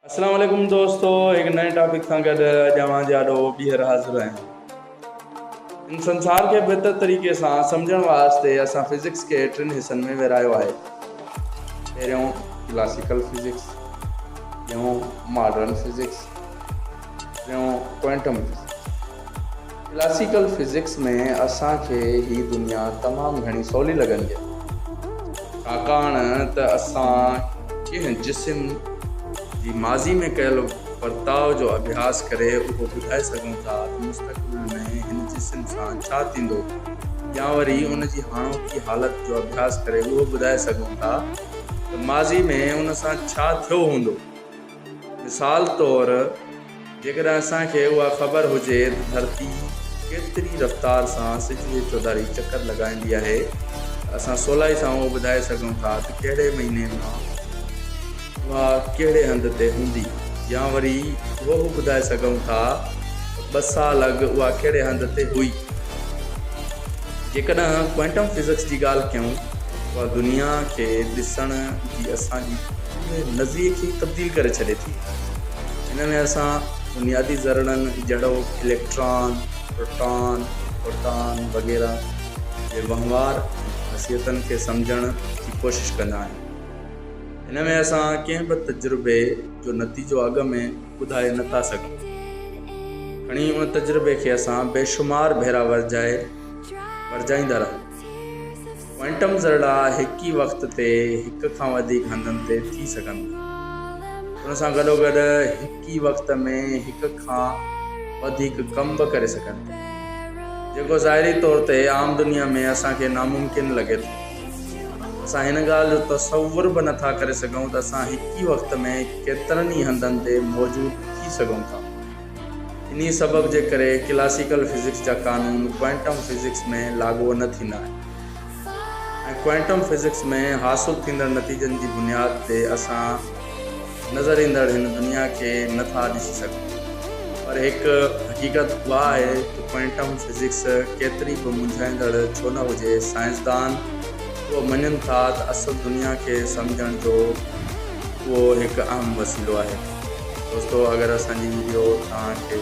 اسلام عليڪم دوستو هڪ نئين ٽاپڪ سان گڏ اڄ اوهان جي آڏو ٻيهر حاضر آهيان ان سنسار کي بهتر طريقي سان سمجهڻ واسطي اسان فزڪس کي ٽن حصن ۾ ورهايو آهي پهريون ڪلاسيڪل فزڪس ٻيون ماڊرن فزڪس ٽيون ڪوئنٽم فزڪس ڪلاسيڪل فزڪس ۾ اسان کي هي دنيا تمام گهڻي سولي لڳندي آهي. ڇاڪاڻ ته اسان ڪنهن جسم جي ماضي ۾ ڪيل ورتاء جو اڀياس ڪري اهو ٻڌائي سگهون ٿا ته مستقبل ۾ هن جسم سان ڇا ٿيندو يا وري ان جي هاڻوڪي حالت جو اڀياس ڪري اهو ٻڌائي سگهون ٿا ته ماضي ۾ ان سان ڇا ٿيو هوندو. مثال طور جيڪڏهن اسان کي اها خبر هجي ته ڌرتي ڪيتري رفتار سان سج جي چوڌاري چڪر لڳائيندي آهي ته اسان سولائي سان اهو ٻڌائي سگهون ٿا ته ڪهڙي مهيني مان اها ڪهڙي هنڌ تي هوندي يا وري اهو به ٻڌائي سگهون ٿا ته ٻه سال اڳ اها ڪهڙي هنڌ تي هئي. جيڪڏهن ڪوئنٽم فزڪس جي ڳالهه ڪيون اها دنيا کي ڏسڻ جي اسان جي پوري نظريي کي ئي تبديل ڪري ڇڏي ٿي. هن ۾ اسان بنيادي ذرڙن جهڙوڪ اليڪٽران، پروٽان، فوٽان وغيره جي وهنوار ۽ خاصيتن کي سمجهڻ جي ڪوشش ڪندا آهيون. هن ۾ اسان ڪنهن به تجربي جو نتيجو اڳ ۾ ٻڌائي نه ٿا سگهون. کڻي ان تجربي کي اسان بيشمار ڀيرا ورجائي ورجائيندا رهون. ڪوئنٽم ذرڙا هڪ ئي وقت تي هڪ کان وڌيڪ هنڌن تي ٿي سگهن ٿا. ان سان گڏوگڏ هڪ ئي وقت ۾ هڪ کان وڌيڪ ڪم به ڪري سگهن ٿا. جيڪو ظاهري طور تي عام دنيا ۾ اسان کي ناممڪن لڳي ٿو. اسان هن ڳالهه جو تصور به نه ٿا ڪري سگهون ته اسان هڪ ئي وقت ۾ ڪيترن ئي هنڌن تي موجود ٿي سگهون ٿا. انهيء سبب جي ڪري ڪلاسيڪل فزڪس جا قانون ڪوئنٽم فزڪس ۾ لاڳو نه ٿيندا آهن ۽ ڪوئنٽم فزڪس ۾ حاصل ٿيندڙ نتيجن جي بنياد تي اسان نظر ايندڙ هن دنيا کي نه ٿا ڏسي سگهون پر هڪ حقيقت اها آهي ته ڪوئنٽم فزڪس ڪيتري به منجهائيندڙ ڇو نه هجي سائنسدان اهو مڃن ٿا ته اصل دنيا کي سمجهڻ جو اهو هڪ اهم وسيلو آهي دوستو اگر اسان جي ويڊيو توهان کي